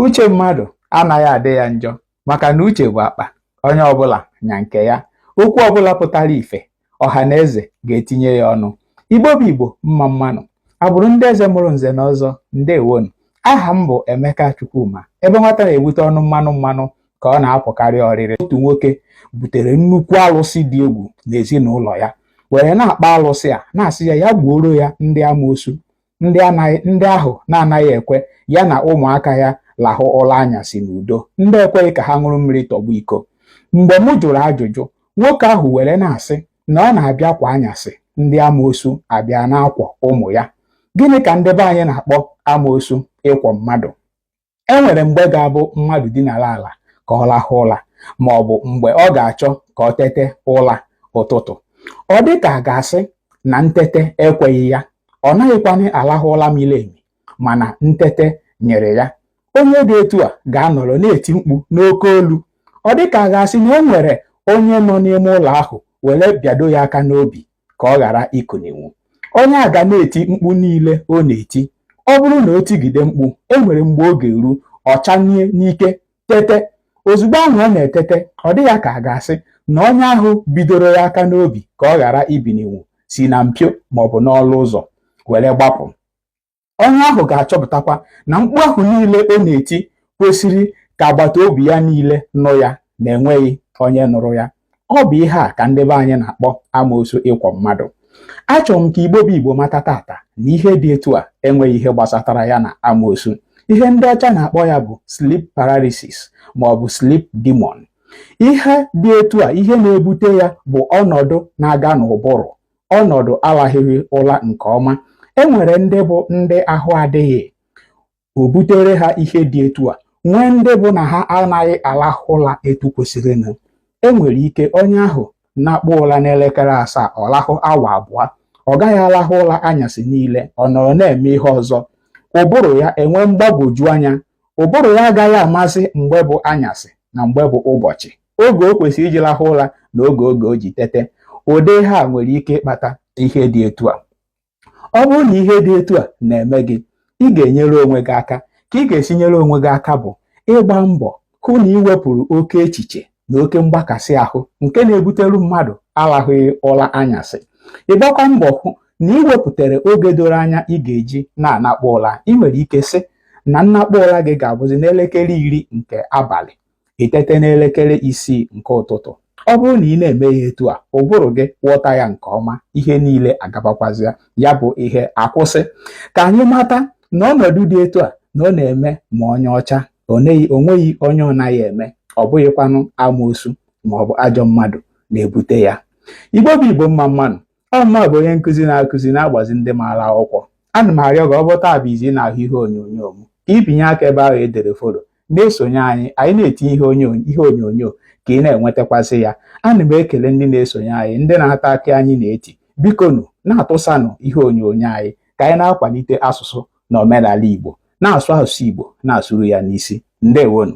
uche mmadụ anaghị adị ya njọ maka na uche bụ akpa onye ọbụla nya nke ya okwu ọbụla pụtara ife ọha na eze ga-etinye ya ọnụ igbo bụ igbo mma mma nụ agbụrụ ndị eze mụrụ nze na ọzọ ndewonụ aha m bụ emeka chukwuma ebe nwata na-ebute ọnụ mmanụ mmanụ ka ọ na-apụkarị ọrịrị otu nwoke butere nnukwu alụsị dị egwu n'ezinụlọ ya were na-akpa alụsị a na-asị ya ya gbuoro ya ndị amoosu ndị ahụ na-anaghị ekwe ya na ụmụaka ya lahụ ụla anyasị n'udo ndị ekweghị ka ha ṅụrụ mmiri tọgbọ iko mgbe m jụrụ ajụjụ nwoke ahụ were na-asị na ọ na-abịa kwa anyasị ndị amoosu abịa na-akwọ ụmụ ya gịnị ka ndị be anyị na-akpọ amoosu ịkwọ mmadụ e nwere mgbe ga-abụ mmadụ dinara ala ka ọ lahụ ụla ma ọ bụ mgbe ọ ga-achọ ka ọ tete ụla ụtụtụ ọ dị ka a ga-asị na ntete ekweghị ya ọ naghịkwanị alahụ ụla miri emi mana ntete nyịrị ya onye dị etu a ga-anọrọ na-eti mkpu n'oke olu ọ dị ka a ga-asị na e nwere onye nọ n'ime ụlọ ahụ were bịado ya aka n'obi ka ọ ghara ikuninwu onye a ga na-eti mkpu niile ọ na-eti ọ bụrụ na o tigide mkpu e nwere mgbe ọ ga-eru ọ chanie n'ike tete ozugbo ahụ ọ na-etete ọ dị ya ka a ga-asị na onye ahụ bidoro ya aka n'obi ka ọ ghara ibininwu si na mpio maọbụ n'ọnụ ụzọ were gbapụ onye ahụ ga-achọpụtakwa na mkpu ahụ niile ọ na-eti kwesịrị ka agbata obi ya niile nụ ya na enweghị onye nụrụ ya ọ bụ ihe a ka ndị be anyị na-akpọ amoosu ịkwọ mmadụ achọrọ m ka igbo bụ igbo mata tata na ihe dị etu a enweghị ihe gbasatara ya na amoosu ihe ndị ọcha na-akpọ ya bụ sleep paralysis ma ọ bụ sleep demon ihe dị etu a ihe na-ebute ya bụ ọnọdụ na-aga n'ụbụrụ ọnọdụ alahụghị ụla nke ọma e nwere ndị bụ ndị ahụ adịghị o butere ha ihe dị etu a nwee ndị bụ na ha anaghị alahụ ụla etu kwesịrịnụ e nwere ike onye ahụ nakpọ ụla n'elekere asaa ọ lahụ awa abụọ ọ gaghị alahụ ụla anyasị niile ọ nọrọ na-eme ihe ọzọ ụbụrụ ya enwee mgbagwoju anya ụbụrụ ya agaghị amasị mgbe bụ anyasị na mgbe bụ ụbọchị oge o kwesịrị iji lahụ ụla na oge oge o ji tete ụdị ihe a nwere ike ịkpata ihe dị etu a ọ bụrụ na ihe dị etu a na-eme gị ị ga-enyere onwe gị aka ka ị ga-esi nyere onwe gị aka bụ ịgba mbọ hụ na ị wepụrụ oke echiche na oke mgbakasị ahụ nke na-ebuteru mmadụ alahụghị ụla anyasị ịgbakwa mbọ hụ na ị wepụtara oge doro anya ị ga-eji na-anakpọ ụla ị nwere ike sị na nnakpọ ụla gị ga-abụzi n'elekere iri nke abalị i tete n'elekere isii nke ụtụtụ ọ bụrụ na ị na-eme ya etu a ụbụrụ gị ghọta ya nke ọma ihe niile agabakwazịa ya bụ ihe akwụsị ka anyị mata na ọnọdụ dị etu a na ọ na-eme ma onye ọcha o nweghị onye ọ naghị eme ọ bụghịkwanụ amoosu ma ọ bụ ajọ mmadụ na-ebute ya igbo bụ igbo mma mmanụ ọmụma bụ onye nkụzi na-akụzi na-agbazi ndị maara akwụkwọ ana m arịọ gị ọ bụ taa bụ izi ị na-ahụ ihe onyonyo m ka i binye aka ebe ahụ e dere follow na-esonye anyị anyị na-etinye ihe onyonyo ka ị na-enwetakwasị ya ana m ekele ndị na-esonye anyị ndị na-ata akị anyị na-eti bikonu na-atụsanụ ihe onyonyo anyị ka anyị na-akwalite asụsụ na omenala Igbo na-asụ asụsụ Igbo na-asụrụ ya n'isi ndewonu